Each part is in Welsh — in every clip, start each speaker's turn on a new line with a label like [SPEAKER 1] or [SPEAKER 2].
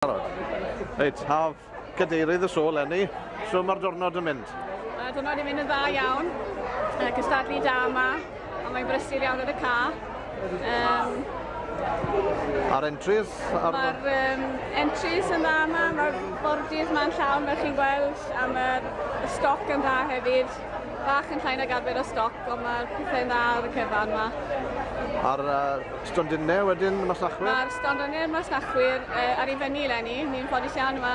[SPEAKER 1] barod. Reit, haf, cadeirydd y sôl, Lenny, so mae'r diwrnod yn mynd? Mae'r diwrnod yn mynd yn
[SPEAKER 2] dda iawn, uh, cystadlu da yma, ond mae'n brysur iawn yn y ca. Um,
[SPEAKER 1] A'r entries? Ar... Mae'r um,
[SPEAKER 2] entries yn dda yma, mae'r bordydd yma'n llawn fel chi'n gweld, a mae'r stoc yn dda hefyd. Bach yn llai nag arfer o stoc, ond mae'r pethau'n dda ar y cyfan ma. A'r
[SPEAKER 1] uh, stondinne wedyn, y masnachwyr? Mae'r stondinne a'r masnachwyr
[SPEAKER 2] uh, ar ei fyny lenni. Ni'n ffodus iawn yma.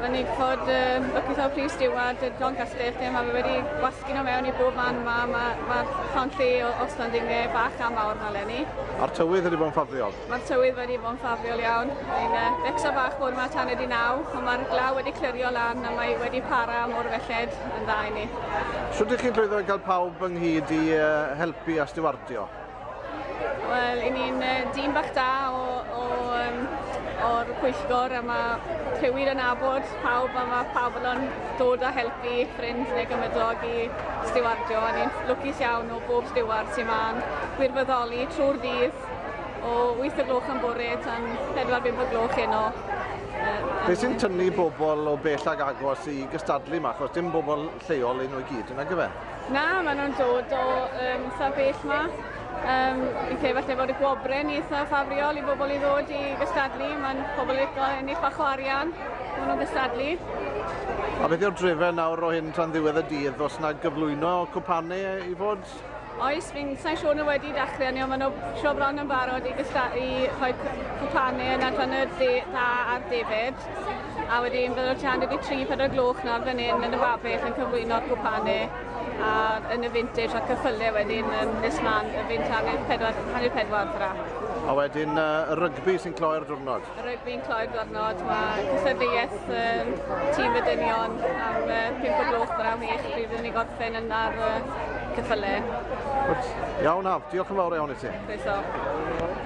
[SPEAKER 2] Mae'n neud fod um, bygwth o'r prif stiward, John Castell, lle mae fe wedi gwasgu nhw mewn i bob man yma. Mae'r ma, ma llawn lle o, o stondinne bach a mawr yma lenni. A'r tywydd wedi bod yn
[SPEAKER 1] ffafriol? Mae'r tywydd wedi bod yn
[SPEAKER 2] ffafriol iawn. Mae'n uh, becsa bach bod yma tan ydi naw, ond mae'r glaw wedi clirio lan a mae wedi para am o'r felled yn dda i ni. Sut ydych chi'n llwyddo
[SPEAKER 1] i gael pawb ynghyd i uh, helpu a stiwardio?
[SPEAKER 2] Wel, i ni'n uh, dîm bach da o, o um, o'r pwyllgor a mae rhywun yn abod pawb a mae pawb yn dod a helpu ffrind neu gymydog i stiwardio a ni'n lwcus iawn o bob stiward sy'n ma'n gwirfoddoli trwy'r ddydd O 8 o gloch yn bore tan 4-5 o gloch heno. Beth
[SPEAKER 1] sy'n tynnu bobl o bell ag agos i gystadlu yma, achos dim bobl lleol yn o'i gyd yna gyfe? Na, maen nhw'n dod
[SPEAKER 2] o um, saf bell yma. Um, fi'n credu falle fod y gwobre yn eitha ffafriol i bobl i ddod i gystadlu. Mae'n pobl yn eitha yn eitha chwa arian, maen nhw'n gystadlu. A
[SPEAKER 1] beth yw'r drefen nawr o hyn tan ddiwedd y dydd? Os yna gyflwyno cwpanau i fod? Oes, fi'n
[SPEAKER 2] sa'n siŵr nhw wedi dechrau ni, ond maen nhw siw bron yn barod i, gysta, i rhoi cwpanau yn adran y dde, dda a'r defyd. A wedyn bydd o'r tua hanner i tri, pedwar gloch nawr fan hyn yn y babell yn cyflwyno'r cwpanau a yn y vintage a'r cyffylau wedyn yn nes mlaen y fynt hanner pedwar, hanner pedwar tra. A wedyn
[SPEAKER 1] uh, y rygbi sy'n cloi'r diwrnod. Rwyf fi'n cloi gornod,
[SPEAKER 2] mae cysadleuaeth um, tîm y dynion am uh, 5 o gloch yr am eich bydd yn ei gorffen yn ar uh, cyffyle.
[SPEAKER 1] Iawn, Haf,
[SPEAKER 2] diolch yn
[SPEAKER 1] fawr iawn i ti. Croeso.